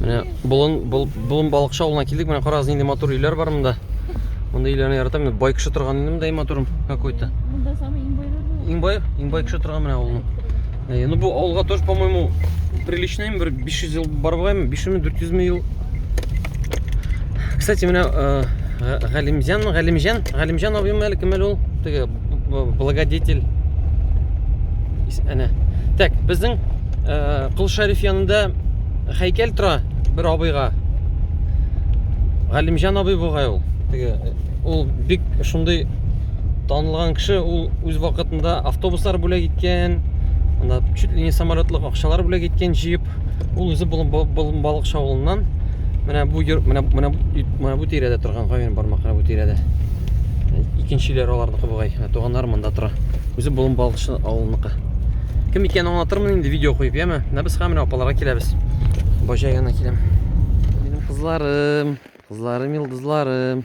Менә болын, бол, болын балыкчы авылына килдек. Менә карагыз, нинди матур өйләр бар монда. Монда өйләрне яратам. Менә бай кеше торган инде монда матурым какой-то. Монда самый иң байлар. Иң бай, иң бай кеше торган менә авылның. Э, ну бу алга тоже, по-моему, приличный бер 500 ел барбаймы, 500 ми, 400 ми ел. Кстати, менә э, Галимҗан, Галимҗан, Галимҗан абыйм әле кем әле ул? Теге благодетель. Әнә. Так, безнең э, Кул Шәриф янында хәйкәл тора бер абыйга. Галимҗан абый бугай ул. Теге ул бик шундый танылган кеше ул үз вакытында автобуслар бүләк иткән анда чуть ли не самолетлык акчалар бүләк иткән җыеп ул үзе балыкчы шавылыннан менә бу менә менә менә бу тирәдә торган гавен бармак менә бу тирәдә икенчеләр аларныкы бугай туганнар монда тора үзе балыкчы авылыныкы кем икәнен аңлатырмын инде видео куеп яме менә без һәм менә апаларга киләбез баҗа янына киләм минем кызларым кызларым йолдызларым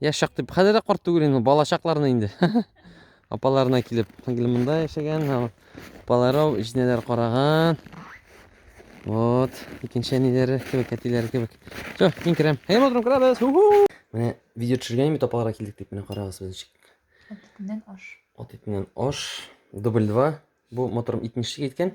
Яшәк дип, хәзер дә карт түгел инде, бала чакларына инде. Апаларына килеп, сеңгел монда яшәгән, апалары җинәләр караган. Вот, икенче әниләре кебек, әтиләре кебек. Все, мин керәм. Әйе, мотрым, керәбез. Менә видео төшергән бит апаларга килдек дип, менә карагыз без ничек. Ат итеннән аш. Ат итеннән аш. Дубль 2. Бу моторым 70 киткән.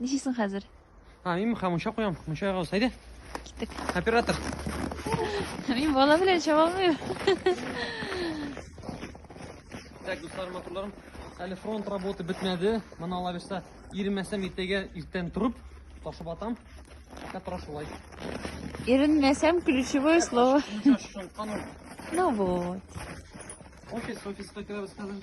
Ничисең хәзер? А, мин мыха мунча куям, мунча ягабыз. Әйдә. Киттек. Оператор. Мин бала белән чаба алмыйм. Так, дуслар, матурларым. Әле фронт работы бетмәде. Моны ала бирсә, иренмәсәм иртәгә иртән торып, ташып атам. Катра шулай. Иренмәсәм ключевое слово. Ну вот. Офис, офиска керәбез хәзер.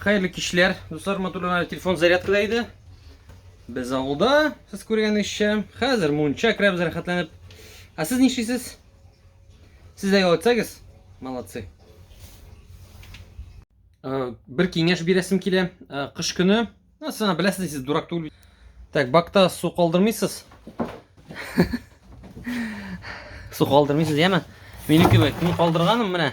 Хәерле кичләр, дуслар, матурлар, телефон зарядкада иде. Без авылда, сез күргәнегезчә, хәзер мунча керәбез рәхәтләнеп. Ә сез нишлисез? Сез дә ял итсәгез, молодцы. Э, бер киңәш бирәсем килә. Э, кыш көне, ну, сана беләсез, сез дурак түгел. Так, бакта су калдырмыйсыз. Су калдырмыйсыз, яме? Минеке бит, мин калдырганым менә.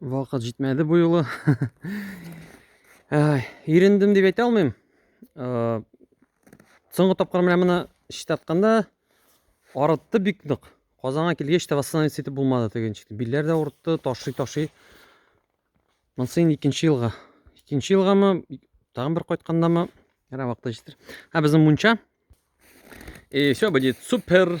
Вакыт җитмәде бу юлы. Ирендем дип әйтә алмыйм. Э, соңгы тапкыр менә моны читтә атканда арытты бик нык. Казанга килгәч тә восстановиться итеп булмады теге ничек. Билләр дә урытты, ташый ташый. Монсы инде икенче елга. Икенче елгамы, тагын бер кайткандамы, әнә вакыты җитер. Һә безнең мунча. И все будет супер.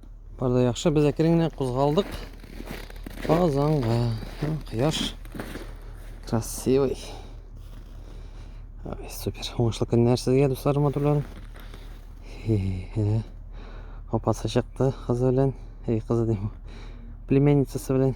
Бар да яхшы, без әкрен генә кузгалдык Казанга. Кояш красивый. Ай, супер. Уңышлы көннәр сезгә, дусларым, матурларым. Апасы чыкты кызы белән. Эй, кызы дим. Племянницасы белән.